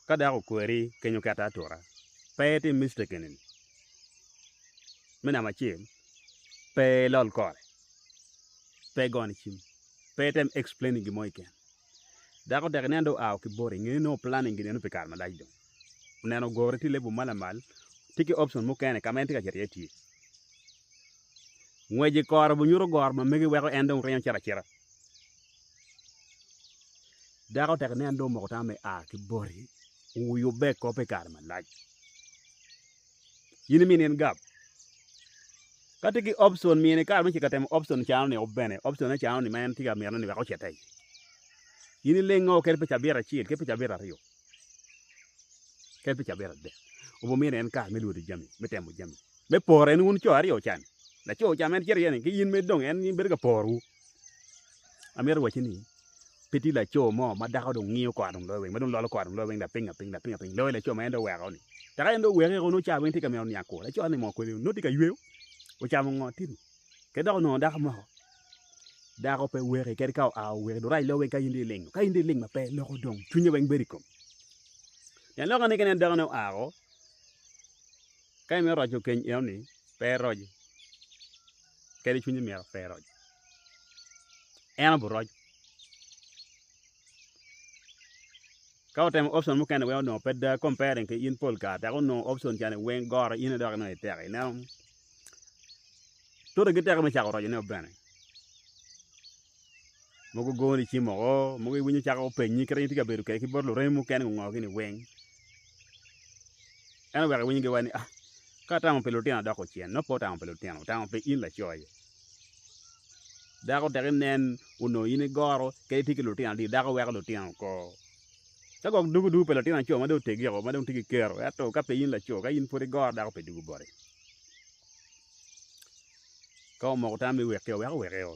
Ka dako okweri kenyo ki aturatura, pe itim mistake eni-ni, Me namba acel, pe ilol kore, pe igone cim, pe item explaining gin mo keken. Dako tek nen dong oa ki boti, ngene nongo planning gineno pi kare malac dong. Oneno ogurre tye i level ma lamal, tye ki option mukene ka ma en tye ka cito iye tye. Ngwec i kore bunyuto goro ma mege weko en dong ringo cito acita. Dako tek ni an dong omoko tama me a ki boti wuyubbe i kop pi kare malac in imini en gab ka tye ki option mine kare mucito ka temo option cano ni bene option ne cano ni ma en tye ka mito ni wek ocit iye in ileng o kit pi cabit acel kit pi cabit aryo kit pi cabit adek obin miti en kare me lwodo jami me temo jami me pore ni wun co aryo can laco ca ma en cito iye ni ki in ma idong en bedo ka porowu amito wacci ni pe tye laco mo ma dako dong ngiyo kore dong loyo weng ma dong lolo kore dong loyo weng lapinga piny lapinga piny loyo laco ma en dong oweko ni dok en dong oweko eko nongo cawa weng tye ka mito niang kwor laco ni mo kwede nongo tye ka yweyo ocamo ngo tye ni ki dok onongo dako moko dako pe weki kadi ka oa oweki dong rac loyo weng ka in dong iling ka in dong iling ma pe loko dong cwinye weng bedo i kom pien lok ni ka ineno dako ni oa o ka imito roco keny eno ni pe iroc kadi cwinye myero pe eroc en obi roc ka otemo option mukene weng onongo pe daa comparing ki in pol kare dok onongo option cani weng goro in dok inongo itek ineno tute giteke me cako roco ne bene mogo goni i cim woko mogo iwinyo calo calo gupenyi kit ma in itye ka bedo kwede ki bot luremi mukene gungo gini weng ento wek iwiny giwaci ni a ka atamo pi lutino adoko ocen nongo pe otamo pi lutino otamo pi in laco-ni dako tek inen onongo in igoro kadi itye ki lutino adada dako weko lutino oko ka gwok dugu dugu pa latin laco ma dong otegi ma dong tye ki kero ento ka pe in laco ka in pud igoro dako pe dugu boti ka omoko tammi wek ki weko weko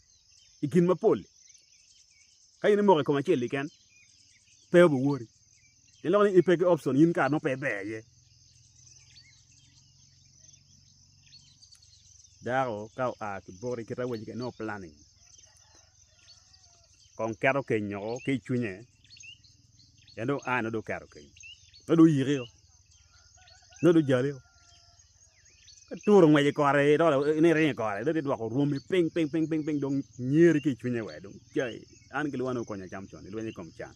i gin mapol-li. Ka in imoko i kom acel keken, pe obi woti. Pien loko ni ipe ki option in kare mo pe iber iye. Dako ka oa ki boti kit awaci kene nongo planning kong keto keny woko ki i cwinye pien dong oa nongo dong oketo keny nongo dong oyiki o nongo dong ojali o. Aturu ngwec i kore ni iringo i kore dong idwoko rwomi piny piny piny dong nyeri ki i cwinye wee dong cayi an ki lwangani wukonya cam coni lweny i kom can.